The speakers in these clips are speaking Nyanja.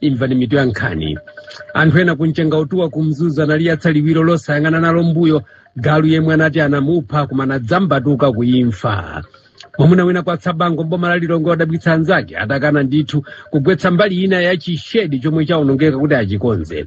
imvani mitu ya nkhani anthu ena ku mchenga utuwa ku mzuzu analiyatsa liwiro losayang'ana nalo mbuyo galu yemwe anati anamupha koma anadzambatuka kuimfa mwamuna wina kwa tsabango mboma la lilongwe wadabwitsa anzake atakana ndithu kugwetsa mbali ina ya chishedi chomwe chawonongeka kuti achikonze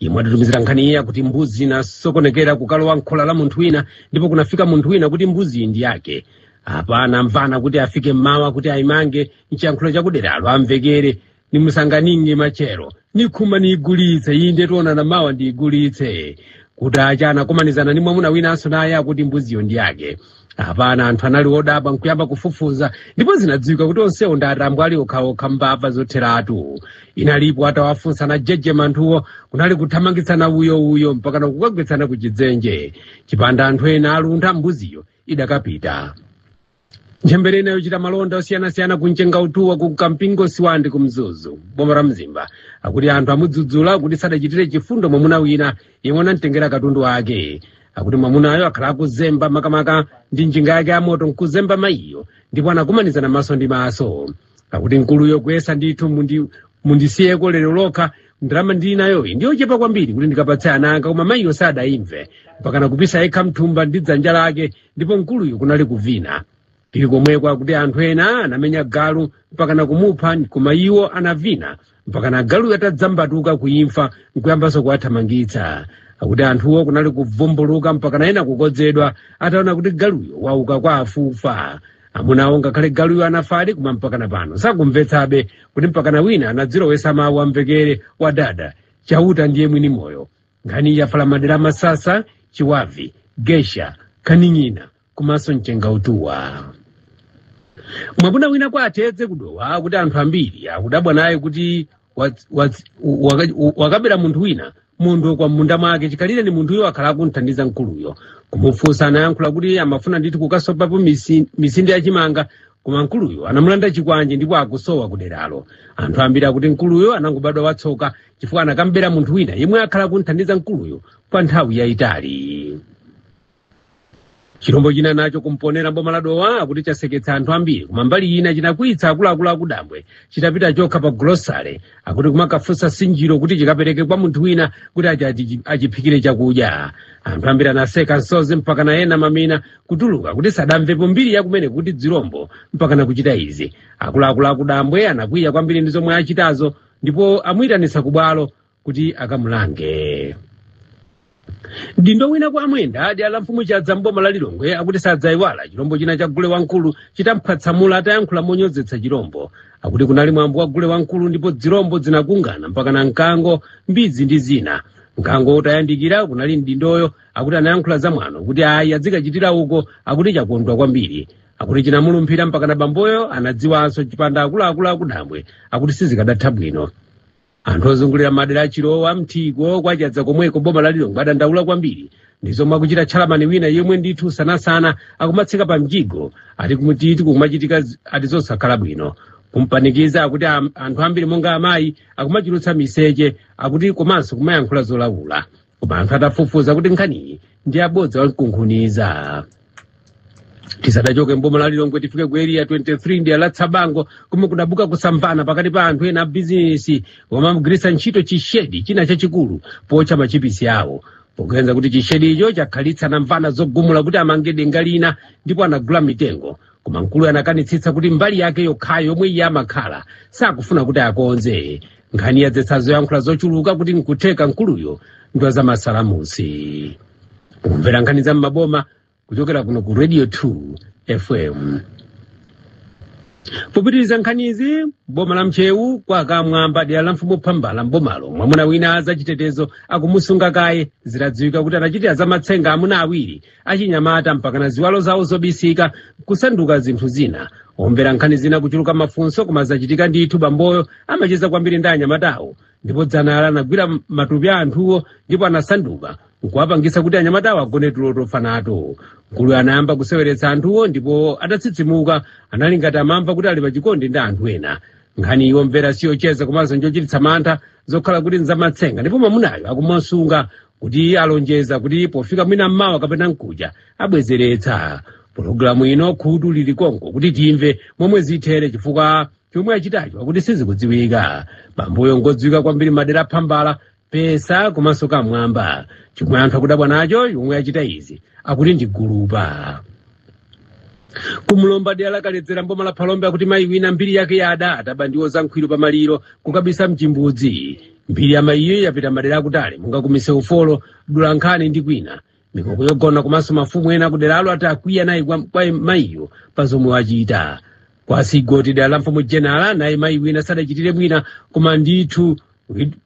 yemwe atitumizira nkhani iyi akuti mbuzi inasokonekera kukalowa m'khola la munthu wina ndipo kunafika munthu wina kuti mbuziyi ndi yake apa anamvana kuti afike mmawa kuti ayimange mchiyankhulo chakuderalo amvekere nimusanganinge machero nikhuma niyigulitse iyi nde tionana mawa ndiyigulitse kutacha anakomanizana ni mwamuna winanso naye akuti mbuziyo ndi yake apana anthu anali odabwa nkuyamba kufufuza ndipo zinadziwika kuti onsewo ndi atambwali okhaokha mbava zotheratu inalipo atawafunsa anajejema anthuwo kunali kuthamangitsana uyouyo mpaka nakukagwetsana ku chidzenje chipanda anthu ena aluntha mbuziyo idakapita ntchembere ina yochita malonda osiyanasiyana ku mchenga utuwa kwa kampingo sibande ku mzuzu boma la mzimba akuti anthu amudzudzula kuti sadachitire chifundo mwamuna wina yemwe anamtengera katundu wake akuti mwamunayo wakhala akuzemba makamaka ndi njinga yake yamoto nkuzemba mayiyo ndipo anakumanizana maso ndi maso akuti mkuluyo kuyesa ndithu mundi- mundisiyeko lero lokha ndalama ndili nayoyi ndiyochepa kwambiri kuti ndikapatse ana anga koma mayiyo sadayimve mpakana kupisa yekha mthumba ndi dzanja lake ndipo mkuluyo kunali kuvina tili komweko akuti anthu ena anamenya galu mpakana kumupha koma iwo anavina mpakana galuyo atadzambatuka kuimfa nkuyambanso kuwathamangitsa akuti anthuwo kunali kuvumbuluka mpakana ena kukodzedwa ataona kuti galuyo wauka kwa akufa amunawo ngakhale galuyo anafadi koma mpakana pano sakumvetsabe kuti mpakana wina anadzilowesa mawu amvekere adada chauta ndiye mwini moyo nkhani yafala madera a masasa chiwavi gesha kaning'ina komanso mchenga utuwa mwamuna wina kwa atedze kudowa akuti anthu ambiri akudabwa naye kuti waz- waz- waka- wakabera munthu wina munthu kwa munda mwake chikhalireni munthuyo wakhala akumthandiza mkuluyo kumufunsa anayankhula kuti amafuna ndithu kukasopapo misi- misinde ya chimanga koma mkuluyo anamulanda chikwanje ndipo akusowa kuderalo anthu ambiri akuti mkuluyo anangobadwa watsoka chifukwa anakabera munthu wina yemwe wakhala akumthandiza mkuluyo kwa nthawi yayitali chilombo china nacho ku mponela mboma la dowa akuti chaseketsa anthu ambiri koma mbali ina chinakwiyitsa akuluakulu akudambwe chitapita chokha pa gulosale akuti kumakafunsa nsinjiro kuti chikapereke kwa munthu wina kuti achi- achi- achiphikire chakudya anthu ambiri anaseka msozi mpakana ena mamina kutuluka kuti sadamvepo mbiri yake yomwe kuti zilombo mpaka nakuchita izi akuluakulu akudambwe anakwiya kwambiri ndi zomwe achitazo ndipo amuyitanitsa kubwalo kuti akamulange mdindo wina kwa amwenda adi ala mfumu chadza mboma la lilongwe akuti sadzayiwala chilombo china cha gule wamkulu chitamphwatsamula atayankhula monyozetsa chilombo akuti kunali mwambo wa gule wamkulu ndipo dzilombo dzinakungana mpaka na mkango mbidzi ndi zina mkango utayandikira komwe kunali mdindoyo akuti anayankhula za mwano kuti ayi adzikachitira uko akuti chakondwa kwambiri akuti chinamulumphira mpaka na bamboyo anadziwanso chipanda akuluakulu akudambwe akuti sizikadatha bwino anthu ozungulira madera achilowa mthiko kwachadza komweko boma la lilongwe adandaula kwambiri ndi zomwe akuchita tchalamani wina yemwe ndithu sanasana akumatsika pa mjigo ati kutiti kukumachitika zi- ati zosakhala bwino kumpanikiza akuti am- anthu ambiri monga amayi akumachulutsa miseche akuti komanso kumayankhula zolawula koma anthu atafufuza kuti nkhaniyi ndi yabodza lamkunkhuniza tisadachoke mboma la lilongwe tifike ku area 23 dera la tsabango komwe kudabuka kusamvana pakati pa anthu ena abizinesi omwe amagwiritsa ntchito chishedi china chachikulu pootcha machipisi awo poganiza kuti chishedicho chakhalitsa namvana zogumula kuti amange denga lina ndipo anagula mitengo koma mkuluyo anakanitsitsa kuti mbali yake yokhayo yomwe iye amakhala sakufuna kuti akonze nkhani yadzetsa zoyankhula zochuluka kuti nkutheka mkuluyo ndwa za masalamusi mukumvera nkhani za m'maboma kuchokera kuno ku radio 2 fm popitiriza nkhanizi mboma la ntcheu kwa kamwamba dera la mfumu phambala mbomalo mwamuna wina a zachitetezo akumusunga kaye zitadziwika kuti anachitira za matsenga amuna awiri achinyamata mpakana ziwalo zawo zobisika kusanduka zinthu zina omvera nkhani zina kuchuluka mafunso koma zachitika ndithu bamboyo amacheza kwambiri ndi anyamatawo ndipo dzana anagwira matupi a anthuwo ndipo anasanduka nkuwapangisa kuti anyamatawo agone tulo tofa nato mkuluyo anayamba kuseweretsa anthuwo ndipo atatsitsimuka anali ngati amamva kuti ali pachikondi ndi anthu ena nkhaniyi omvera siyocheza komanso njochititsa mantha zokhala kuti nzamatsenga ndipo mamunayo akumusunga akuti alonjeza kuti pofika mwina mmawa kapena mkuja abwezeretsa pologalamu ino khutu lili konko kuti timve momwe zithere chifukwa chomwe achitacho akuti sizikudziwika bamboyo ngodziwika kwambiri madera aphambala pesa komanso kamwamba chomwe anthu akudabwa nacho yemwe achita izi akuti ndi gulupa kumulomba dera la kaledzera mboma la phalombe akuti mayi wina mbiri yake yada ataba ndiwo za nkhwiru pa maliro kukabisa mchimbudzi mbiri ya mayiyo yapita madera akutali monga kumise ufolo dulankhani ndi kwina mikoko yogona komanso mafumu ena akuderalo ati akwiya nayo kwa mayiyo pa zomwe wachita kwa sigoti dera la mfumu jenala naye mayi wina sadachitire mwina koma ndithu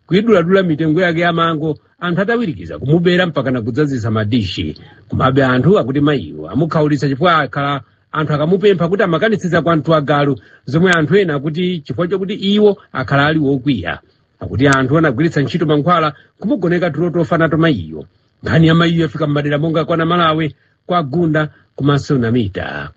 kuiduladula mitengo yake ya mango anthu atawirikiza kumubera mpaka nakudzazisa madishi komabe anthu akuti mayiyo amukhaulitsa chifukwa akhala anthu akamupempha kuti amakanitsitsa kwa mtu wa galu zomwe anthu ena akuti chifukwa chakuti iwo akhala ali wokwiya akuti anthu anagwiritsa ntchito mankhwala kumugoneka tulo tofa nato mayiyo nkhani ya mayiyo yafika m'madera monga kwa namalawe kwa gunda komanso namita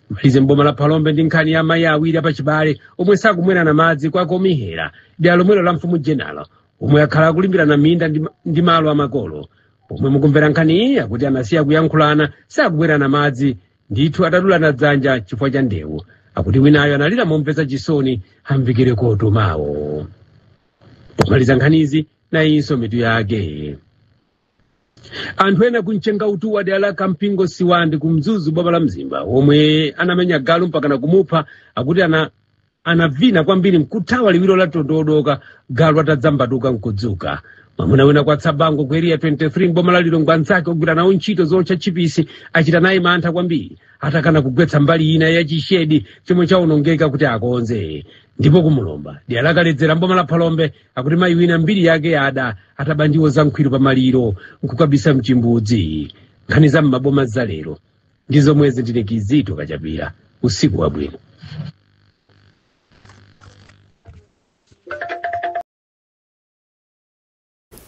timalize mboma la phalombe ndi nkhani ya mayi awiri apachibale omwe sakumwerana madzi kwa komihera dera lomwelo la mfumu jenala omwe akhala akulimbirana minda ndi malo amakolo pomwe mukumvera nkhani iyi akuti anasiya kuyankhulana sakumwerana madzi ndithu atadulana dzanja chifukwa cha ndewu akuti winayo analira momvetsa chisoni amvekere koto mayo pomaliza nkhanizi nayinso mitu yake anthu ena kumchengautuwa dera la kampingo sibande ku mzuzu boma la mzimba omwe anamenya galu mpakana kumupha akuti anavina kwambiri mkuthawa liwiro la mtondo wadooka galu atadzambatuka nkudzuka mwamuna wina kwa tsabango ku eriya 23 mboma la lilongwe anzake ogwira nawo ntchito zootcha tchipisi achita naye mantha kwambiri atakana kugwetsa mbali ina ya chishedi chomwe chawonongeka kuti akonze ndipo kumulomba dera lakaledzera mboma la phalombe akuti mayi wina mbiri yake yada ataba ndiwo za nkhwiru pa maliro nkukabisa mchimbudzi nkhani za m'maboma za lero ndi zomwezi ndine kizito kachapira usiku wabwino